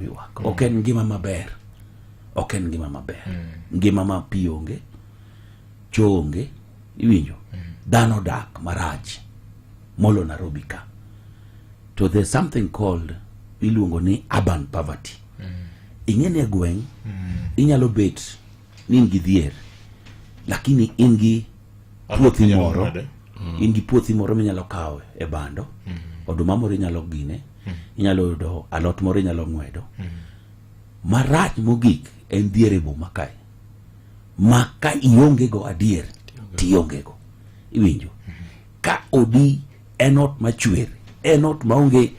ywak mm. ok en ngima maber ok en ngima maber mm. ngima ma pi onge cho onge iwinjo mm. dhano dak marach molo nairobi ka to the something called iluongo ni urban poverty mm. ing'e ni e gweng' mm. inyalo bet ni in gi dhier lakini in gi puothi moro mm. in gi puothi moro minyalo kawo e bando mm. oduma moro inyalo gine mm. inyalo yudo alot moro inyalo ng'wedo marach mogik en dhier e boma kae ma ka iongego adier tiongego iwinjo ka odi en ot machwer en ot maonge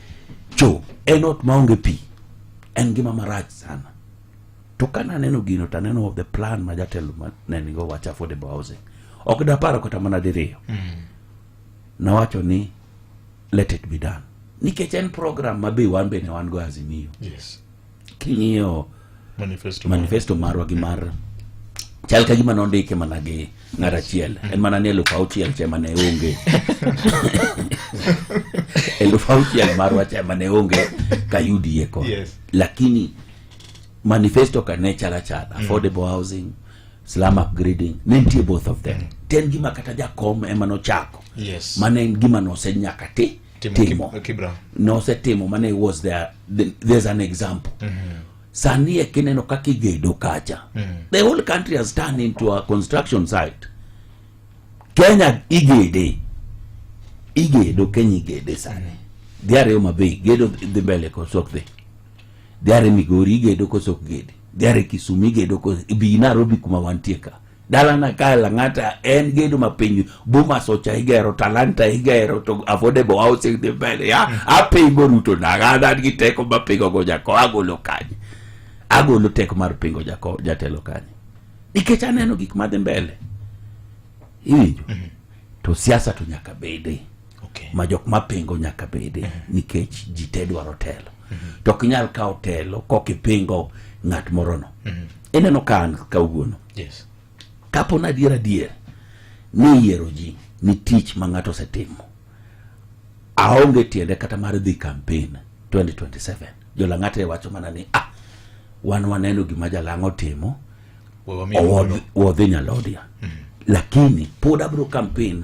cho en ot maonge pi en ngima marach sana To ka naneno gino to aneno the plan ma jatelo ma ne nigo wacho affordable housing. Ok daparo kata mana diriyo. Nawacho ni let it be done. Nikech en program ma be wan bende wan go Azimio. Yes. King'iyo Manifesto. manifesto marwa gi mar chal ka gima nondike mana gi ng'at achiel en mana ni eluf auchiel cha ema ne onge eluf auchiel marwa cha ema ne onge ka yudie ko Yes. lakini manifesto ka ne chala chala mm. affordable mm. housing slum upgrading ne nitie both of them mm. ten gima kata jakom ema nochako yes. mane en gima nose nyaka ti timo nosetimo mane was there there's an example mm -hmm. sani e kineno kaka igedo kacha mm -hmm. the whole country has turned into a construction site kenya igede igedo kenya igede sani mm -hmm. dhiariyo mabe gedo dhi mbele kosok dhi Dhiare Migori igedo koso ok gedi? Dhiare Kisumu igedo koso ibi Nairobi kuma wantie ka? Dalana kae Lang'ata en gedo ma piny Bomas ocha igero, Talanta igero, to affordable housing dhi mbele. Ya, apingo Ruto nanga, an an gi teko ma pingo go jako, agolo kanye? Agolo teko mar pingo jako jatelo kanye? Nikech aneno gik madhi mbele. Iwinjo? To siasa to nyaka bede. okay. ma jok mapingo nyaka bede mm-hmm. nikech ji te dwaro telo mm-hmm. to ok nyal kawo telo kok ipingo ng'at morono mm-hmm. ineno ka an kawuono yes. kapo na adier adier ni yiero ji ni tich ma ng'ato osetimo aonge tiende kata mar dhi kampen 2027 jolang'ate wacho mana ni ah wan waneno gima jalang' otimo wadhi nyalodia mm-hmm. lakini pod abro kampen